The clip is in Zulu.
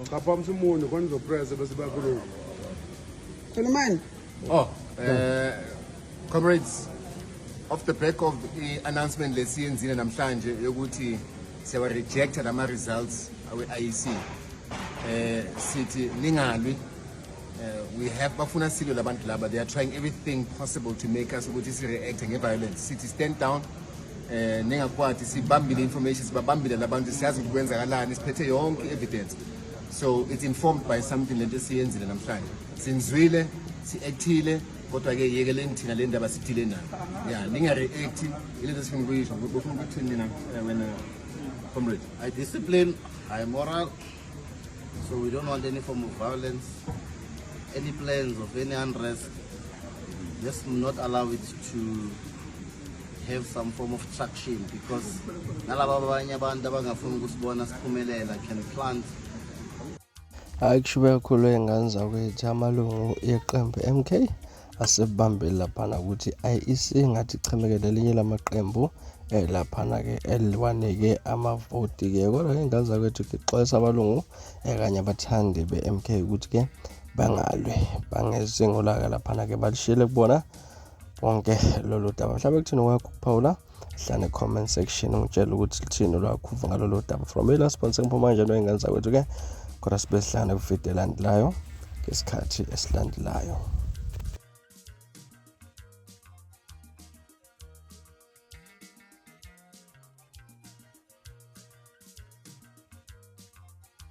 Kapha msumuno khona uzopressa bese bakhuluma. Khulumani. Oh, eh comrades off the back of the announcement lesiyenzile namhlanje yokuthi siyawa reject lama results awe IEC. Eh sithi ningalwi Uh, we have bafuna silwe labantu laba they are trying everything possible to make us ukuthi si-reacte nge-violence sithi stand down eh ningakwati sibambile information sibabambile labantu siyazi ukuthi kwenzakalani siphethe yonke evidence so it's informed by something lento esiyenzile namhlanje sinzwile si-actile kodwa ke yekeleni thina le ndaba sidile nayo ya ninga-react ilento esifuna ukuyisho bofuna ukuthi nina eh, wena comrade i discipline i moral So we don't want any form of violence, any plans of any unrest. Let's not allow it to have some form of traction because nalaba abanye abantu abangafuni ukusibona siphumelela can plant hhayi kusho uyakhulwa iy'ngane zakwethu amalungu yeqembu MK asebambeli laphana ukuthi i-IEC ngathi ichemeke nelinye lamaqembu eh laphana ke eliwanike amavoti ke kodwa ke ingane zakwethu ngixolisa abalungu eh kanye abathandi be-MK ukuthi ke bangalwe bangezingo laka laphana ke balishiyele kubona bonke lolu daba mhlawumbe kuthini kwakho ukuphawula hlane comment section ungitshela ukuthi lithini lwakhuva ngalolo daba from the last point sengiphuma nje into engenza kwethu ke kodwa sibe sihlane kwividiyo elandelayo ngesikhathi esilandelayo